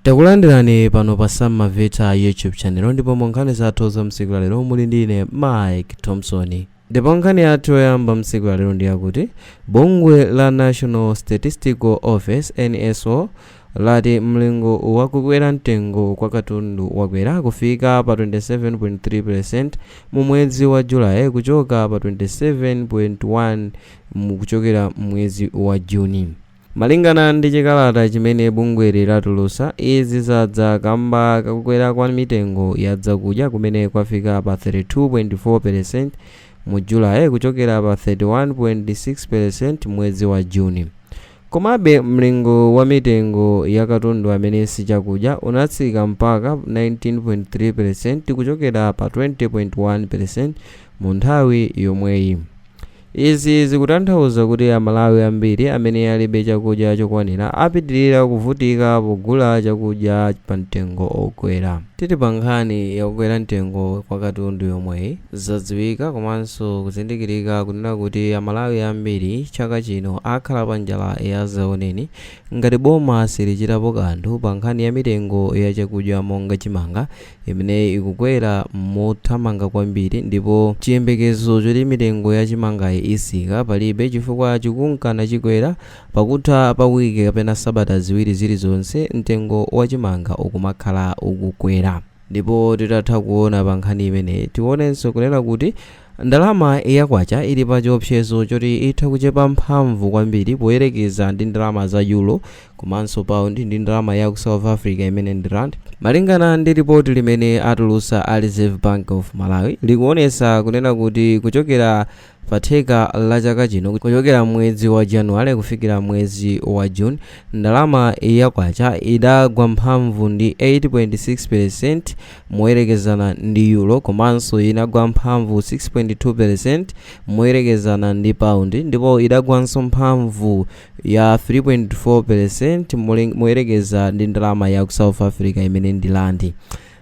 Takulandirani pano pa Sam Maveta YouTube channel ndipo mu nkhani zathu za tsiku lalero muli ndi ine Mike Thompson. Ndipo nkhani yathu yoyamba tsiku lalero ndi yakuti bungwe la National Statistical Office NSO lati mlingo wa kukwera mtengo kwa katundu wakwera kufika pa 27.3% mu mwezi wa Julayi kuchoka pa 27.1 mu kuchokera mwezi wa Juni. Malingana ndi chikalata chimene bungweli latulusa, izi zadza kamba kakukwera kwa mitengo ya zakudya kumene kwafika pa 32.4 pelesenti mu Julayi kuchokera pa 31.6 pelesenti mwezi wa Juni. Komabe, mlingo wa mitengo ya katundu amene si chakudya unatsika mpaka 19.3 pelesenti kuchokera pa 20.1 pelesenti mu nthawi yomweyi. Izi zikutanthauza kuti Amalawi ambiri amene alibe chakudya chokwanira apitilira kuvutika pogula chakudya pa mtengo okwera. Tili pa nkhani ya kukwera mtengo kwa katundu yomweyi, zadziwika komanso kuzindikirika kunena kuti Amalawi ambiri chaka chino akhala pa njala ya zaoneni ngati boma silichitapo kanthu pa nkhani ya mitengo ya chakudya monga chimanga, imene ikukwera mothamanga kwambiri ndipo chiyembekezo choti mitengo ya chimangayi itsika palibe chifukwa chikunka nachikwera, pakutha pa wiki kapena sabata ziwiri zilizonse mtengo wa chimanga ukumakhala ukukwera. Ndipo titatha kuona pa nkhani imeneyi, tionenso kunena kuti ndalama ya kwacha ili pa chiopsezo choti itha kuchepa mphamvu kwambiri poyerekeza ndi ndalama za Euro komanso pound ndi ndalama yaku south africa imene ndi rand malingana ndi ripoti limene atulusa a reserve bank of malawi likuonesa kunena kuti kuchokera pa theka la chaka chino kuchokera mwezi wa january kufikira mwezi wa june ndalama ya kwacha idagwa mphamvu ndi 8.6% moyerekezana ndi euro komanso idagwa mphamvu 6.2% moyerekezana ndi pound ndipo idagwanso mphamvu ya 3.4 peresenti moyerekeza ndi ndalama ya ku south africa imene ndi landi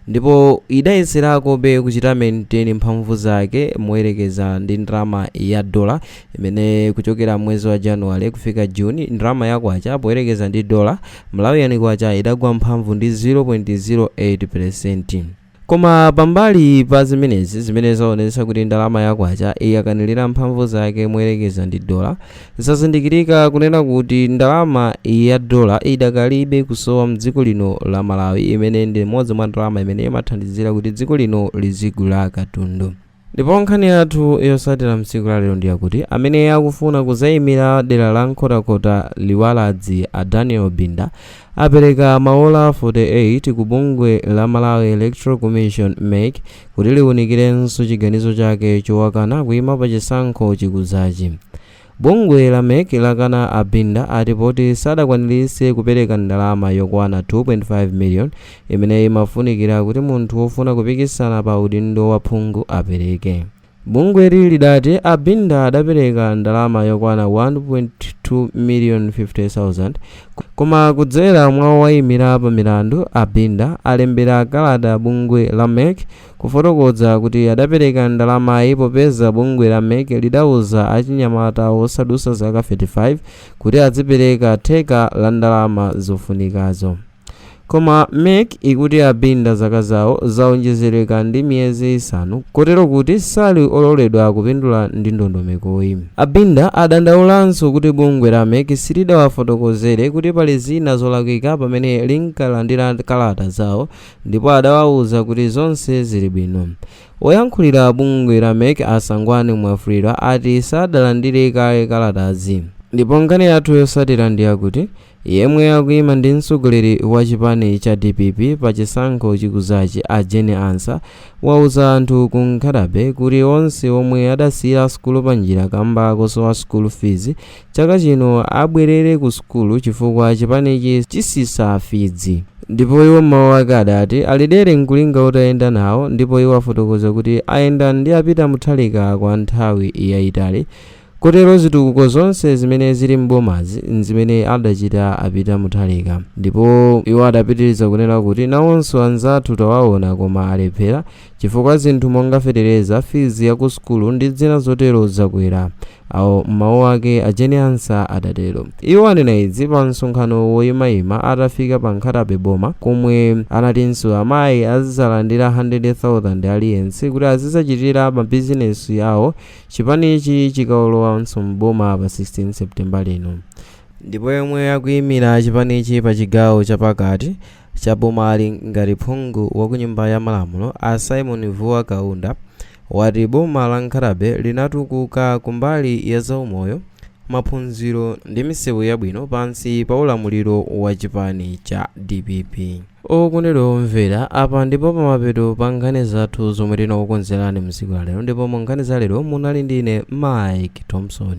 ndipo idayeserakobe kuchita maintain mphamvu zake moyerekeza ndi ndalama ya dola imene kuchokera mwezi wa januwale kufika juni ndalama ya kwacha poyerekeza ndi dola malawian kwacha idagwa mphamvu ndi 0.08 peresenti Koma pambali pa zimenezi, zimene zaonetsa kuti ndalama ya kwacha yakanilira mphamvu zake moyerekeza ndi dola, zazindikirika kunena kuti ndalama ya dola idakalibe kusowa m'dziko lino la Malawi imene ndi imodzi mwa ndalama imene imathandizira kuti dziko lino lizigula katundu. Ndipo nkhani yathu yotsatira mtsiku la lero ndiyakuti amene akufuna kudzaimira dera la Nkhotakota Liwaladzi a Daniel Binda apereka maola 48 ku bungwe la Malawi Electoral Commission mec kuti liunikilenso chiganizo chake chowakana kuima pa chisankho chikudzachi. Bungwe la mec lakana a Binda ati poti sadakwaniritse kupeleka ndalama yokwana 2.5 million imene imafunikira kuti munthu wofuna kupikisana pa udindo wa phungu apeleke. Bungweli lidati a Binda adapeleka ndalama yokwana 1.2 million 50,000 koma kudzera mwa owayimira pa milandu a Binda alembera kalata bungwe la mec kufotokoza kuti adapereka ndalamayi popeza bungwe la mec lidauza achinyamata osadutsa zaka 35 kuti adzipereka theka la ndalama zofunikazo. Koma mec ikuti a Binda zaka zawo zaonjezeleka ndi miyezi isanu kotero kuti sali ololedwa kupindula ndi ndondomekoyi. A Binda adandaulanso kuti bungwe la mec silidawafotokozere kuti pali zina zolakwika pamene linkalandira kalata zawo ndipo adawauza kuti zonse zili bwino. Woyankhulira bungwe la mec a Sangwani Mwafulirwa ati sadalandire kaye kalatazi. Ndipo nkhani yathu yotsatira ndi yakuti yemwe akuima ndi mtsogoleri wa chipani cha dpp pa chisankho chikudzachi a Jane Ansah awuza anthu ku Nkhata Bay kuti onse omwe adasiyira sukulu panjira kamba kosowa school fees chaka chino abwerere ku sukulu chifukwa chipanichi chitsitsa fizi ndipo iwo mmawu ake adati ali dere nkulinga utayenda nawo ndipo iwo afotokoza kuti ayenda ndi a Peter Mutharika kwa nthawi yayitali kotero zitukuko zonse zimene zili m'bomazi nzimene adachita a Peter Mutharika ndipo iwo adapitiriza kunena kuti nawonso anzathu tawaona koma alephera Chifukwa zinthu monga fetereza, fizi ya ku sukulu ndi zina zotero zakwera, awo m'mawu ake a Jane Ansah adatero. Iwo anena izi pa msonkhano woyimayima atafika pa Nkhata Bay boma komwe anatinso amayi azidzalandira 100,000 aliyense kuti azidzachitira mabizinesi awo chipanichi chikalowanso m'boma pa 16 September lino. Ndipo yemwe akuyimira chipanichi pa chigawo chapakati cha bomali ngati phungu wa ku nyumba ya malamulo a Symon Vuwa Kaunda wati boma la Nkhata Bay linatukuka kumbali ya zaumoyo, maphunziro ndi misewu yabwino pansi pa ulamuliro wa chipani cha dpp. Okondedwa omvera, apa ndipo pamapeto pa nkhani zathu zomwe tinakukonzerani mtsiku la lero ndipo mu nkhani za lero munali ndi ine Mike Thompson.